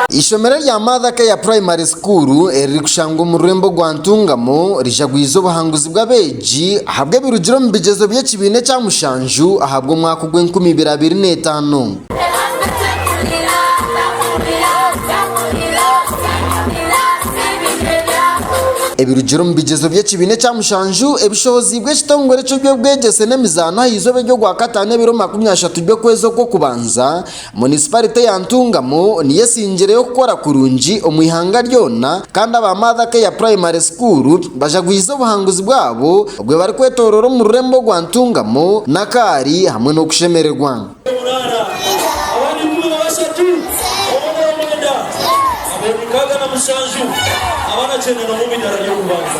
Eishomero rya Mother Care Primary School eririkushangwa omu rurembo rwa Ntungamo rijagwize obuhanguzi bw'abeegi ahabw'ebirugire omu bigyezo by'ekibiina ekya mushanju ahabw'omwaka ogw'enkumi ibiri abiri n'etaano. Ebirugire omu bigyezo by'ekibiina ekya mushanju ebishooziibwe ekitongore eky'eby'obwegyese n'emizaano aha izooba ery'Ogwakataano ebiro makumi ashatu by'okwezi okw'okubanza, munisiparite ya Ntungamo niyo esingireyo kukora kurungi omu ihanga ryona kandi aba Mother Care Primary School bajagwize obuhanguzi bwabo obwe barikwetoroora omu rurembo rwa Ntungamo, Nakaari hamwe n'okushemererwa. Omuraara, abandi ikumi na bashatu omu omwenda, abeegi nkaaga na mushanju, abaana kyenda n'omwe omu idaara ry'okubanza.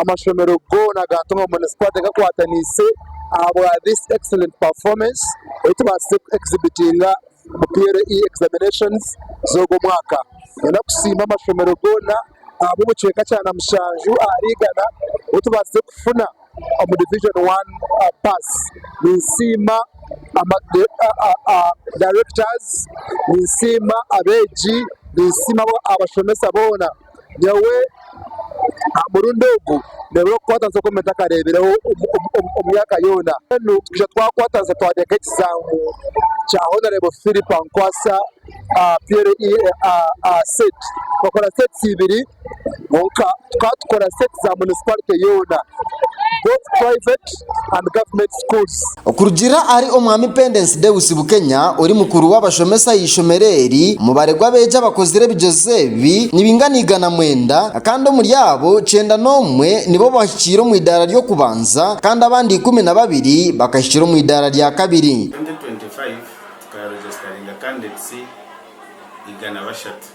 amashomero goona gaatunga omu munisipaarite gakwatanise ahabwa this excellent performance ei tubaasize ku exhibitinga omu KCPE examinations z'ogo omwaka. Nenda kusiima amashomero goona ahabw'obucweka kya na mushanju ahari igana obu tubaasize kufuna omu division one pass. Ninsiima ama directors, ninsiima abeegi, ninsiima abashomesa boona. Nyowe aha murundi ogu nindeeba okukwatanisa oku ntakareebireho omu myaka yoona. Mbwenu twija twakwatanisa twateeka ekizaamu kya honarebo Phillip Ankwasa aha PLEA set. Twakora sets ibiri kwonka tukaba tukora sets za munisiparite yoona both private. and government schools. Okurugiirira ahari Omwami Pendence Deus Bukenya ori mukuru w'abashomesa aha ishomero eri, omubare gw'abeegi abakozire ebigyezo ebi nibaingana igana mwenda kandi omuri abo, kyenda n'omwe nibo bahikiire omu idaara ry'okubanza kandi abandi ikumi na babiri bakahikira omu idaara rya kabiri. 2025 tukaregestaringa candidates igana bashatu.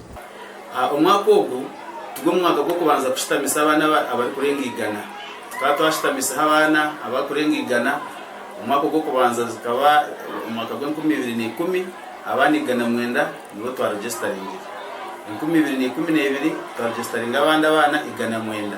Omwaka ogu tigwo mwaka gw'okubanza kushitamisa abaana abarikurenga igana. Tukaba twashitamiseho abaana abarikurenga igana. Omwaka ogw'okubanza gukaba omwaka gw'enkumi ibiri na ikumi, abaana igana mwenda nibo twaregestaringire. Enkumi ibiri na ikumi na ibiri twaregestaringa abandi abaana igana mwenda.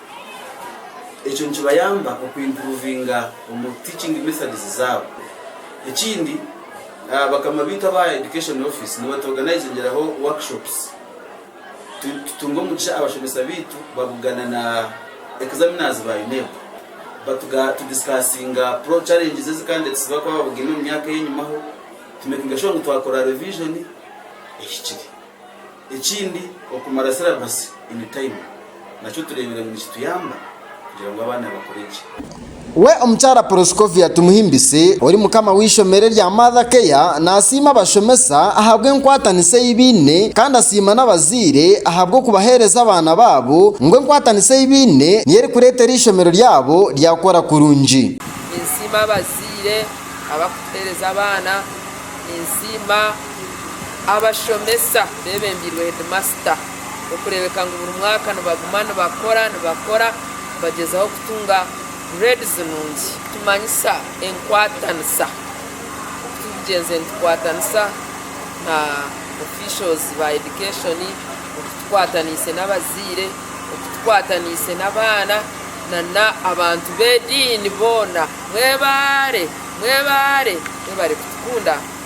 Ekyo nikibayamba okuimpuruvinga omu teaching methods zaabo. Ekindi, bakama baitu aba Education Office nibatwoganaizingyiraho workshops. Tutunga omugisha abashomesa baitu babugana na examiners ba UNEB. Tudisikaasinga challenges ezikandeetisibwa kuba babugine omu myaka ey'enyima ho. Tumekinga shuwa ngu twakora revision ehikire. Ekindi, okumara sirabasi ini tayimu nakyo tureebire ngu nikituyamba kugira ngu abaana bakure gye. We Omukyara Proscovia Tumuhimbise ori mukama w'eishomero erya Mother Care naasiima abashomesa ahabw'enkwatanisa ei baine kandi asiima n'abazaire ahabw'okubaheereza abaana baabo ngu enkwatanisa ei baine niyo erikureetera eishomero ryabo ryakora kurungi. Ninsiima abazaire abarikutuheereza abaana. Ninsiima. Abashomesa bebembeirwe hedimasita okureebeka ngu buri mwaka nibaguma nibakora nibakora nibagyezaho kutunga grades nungi. Tumanyisa enkwatanisa oku turikugyenze nitukwatanisa na officials ba education, oku tukwataniise n'abazaire, oku tukwataniise n'abaana na n'abantu b'ediini boona. Mwebaare mwebaare mwebare kutukunda.